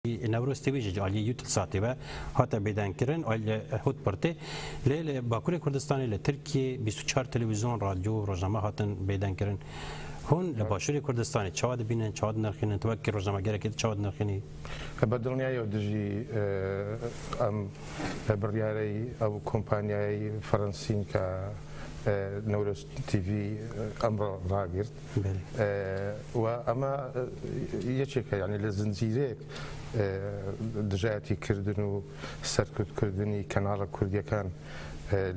نەورۆز تێویژێج ئالیە یوتل ساتێ بە هاتە بێدەنگ کرن ئای لە هوت پرتێ لێ لە باکوورێ کوردستانی لە ترکیە 24 تەلەویزیۆن رادیۆ ڕۆژنامە هاتن بێدەنگ کرن هون لە باشووری کوردستانی چاوا دەبینن چاوا دەنرخێنن تەوەکی ڕۆژنامەگەرەکەی چاوا دەنرخێنی بە دڵنیایەوە دژی ئەم بڕیارەی ئەو کۆمپانیای فەرەنسین کە نەورۆز تیڤی ئەمڕۆ ڕاگرت و ئەمە یەکێکە یانی لە زنجیرەیەک دژایەتی کردن و سەرکوتکردنی کەناڵە کوردیەکان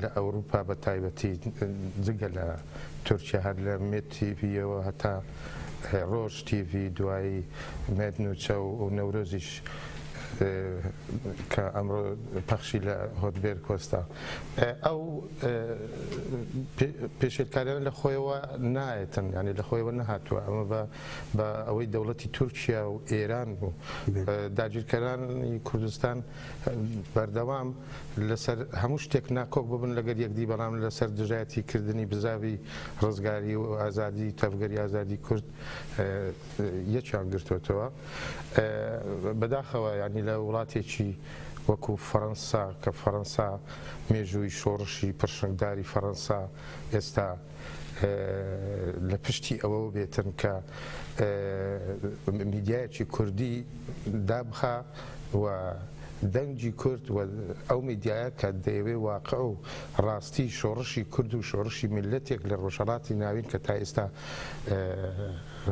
لە ئەوروپا بە تایبەتی جگە لە تورکیا هەر لە مێت تیڤیەوە هەتا ڕۆژ تیڤی دوایی مێت نوچە و نەورۆزیش کە ئەمڕۆ پەخشی لە هۆدبێر کۆستا ئەو پێشێلکاریانە لە خۆیەوە نایەتن یانی لە خۆیەوە نەهاتووە ئەمە بە ئەوەی دەوڵەتی تورکیا و ئێران و داگیرکەرانی کوردستان بەردەوام لەسەر هەموو شتێک ناکۆک ببن لەگەر یەکدی بەڵام لەسەر دژایەتی کردنی بزاوی ڕزگاری و ئازادی تەڤگەری ئازادی کورد یەکیان گرتوتەوە بەداخەوە ینی لە وڵاتێکی وەکو فەرەنسا کە فەرەنسا مێژووی شۆڕشی پڕشنگداری فەرەنسا ئێستا لە پشتی ئەوەوە بێتن کە میدیایەکی کوردی دابخا و دەنگی کورد و ئەو میدیایە کە دەیەوێ واقع و ڕاستی شۆڕشی کورد و شۆڕشی میللەتێک لە ڕۆژهەڵاتی ناوین کە تا ئێستا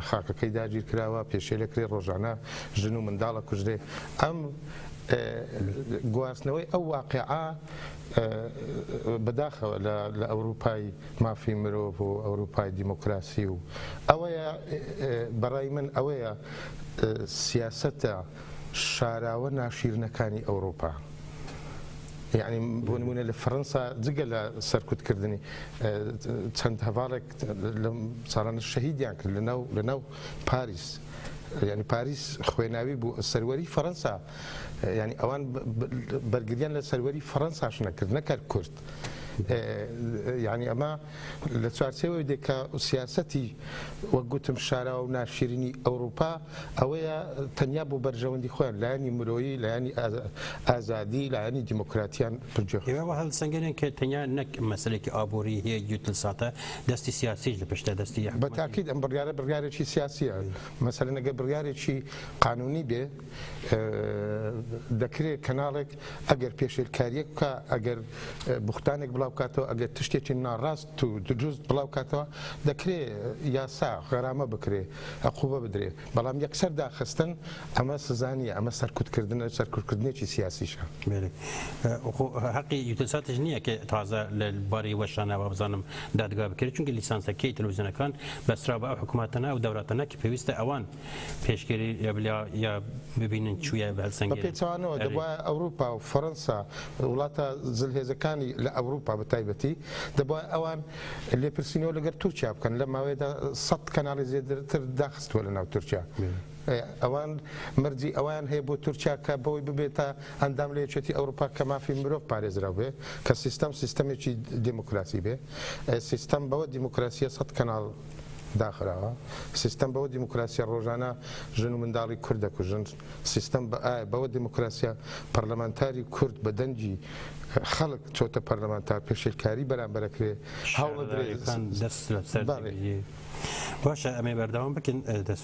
خاکەکەی داگیرکراوە پێشێلەکرێ ڕۆژانە ژن و منداڵە کوژرێ ئەم گواستنەوەی ئەو واقیعە بەداخەوە لە ئەوروپای مافی مرۆڤ و ئەوروپای دیموکراسی و ئەوەیە بەڕای من ئەوەیە سیاسەتە شاراوە ناشیرنەکانی ئەوروپا یعنی بۆ نمونە لە فەرەنسا جگە لە سەرکوتکردنی چەند هەڤاڵێک لەم ساڵانە شەهیدیان کرد لە ناو لە ناو پاریس یانی پاریس خوێناوی بوو سەروەری فەرەنسا یانی ئەوان بەرگریان لە سەروەری فەرەنساش نەکرد نەکرد کورد یعنی ئەمە لە چوارچەوەی دێکە سیاستی وەک گوتم شاراوە و ناشرینی ئەوروپا ئەوەیە تەنیا بۆ بەرژەوەندی خۆیان لایانی مرۆیی لایانی ئازادی لایانی دیموکراتیان پرجێ هەڵسەنگەرێن کە تەنیا نەک مەسلێکی ئابووری هەیە یوتل ساتە دەستی سیاسیش لە پشتە دەستی یە حکومەتی. بە تاکید ئەم بڕیارە بڕیارێکی سیاسیە مەسەلەن ئەگەر بڕیارێکی قانونی بێ دەکرێ کەناڵێک ئەگەر پێشێلکاریەک بکا ئەگەر بوختانێک بڵاو بکاتەوە ئەگەر تشتێکی ناڕاست و دروست بڵاو کاتەوە دەکرێ یاسا غەرامە بکرێ عقوبە بدرێ. بەڵام یەکسەر داخستن ئەمە سزا نیە ئەمە سەرکوتکردنە سەرکوتکردنێکی سیاسیشە. خۆ هەقی یوتەساتش نییە کە تازە لە بارەی وەشانە وابزانم دادگا بکرێت چونکە لیسانسەکەی تەلویزیۆنەکان بەسترا بە ئەو حکومەتەنە ئەو دەولەتەنە کە پێویستە ئەوان پێشگیری لێبلیا یا ببینن چویە بەسەنگێ بە پێچەوانەوە دەبا ئەوروپا و فەرەنسا وڵاتە زلهێزەکانی لە ئەوروپا بە تایبەتی دەبا ئەوان لێپرسینەوە لەگەل تورکیا بکەن لەم ماوەیەدا سەد کەناڵی زێدرتر داخستوە لەناو تورکیا ئەوان مەرجی ئەوان هەیە بۆ تورکیا کە بەوەی ببێتە ئەندام لە یەکێتی ئەوروپا کە مافی مرۆڤ پارێزراو بێ کە سیستەم سیستەمێکی دیموکراسی بێ سیستەم بەوە دیموکراسیە سەد کەناڵ داخراوە سیستەم بەوە دیموکراسیە ڕۆژانە ژن و منداڵی کوردە کوژن سیستەم بە ئایا بەوە دیموکراسیە؟ پەرلەمانتاری کورد بە دەنگی خەڵک چۆتە پەرلەمان تا پێشێلکاری بەرامبەر ئەکرێ هەوڵ ئەدرێ شارەزایەکان دەست لەسەر بەڵێ. دەگریێ باشە ئەمەی بەردەوام بکەن دەست.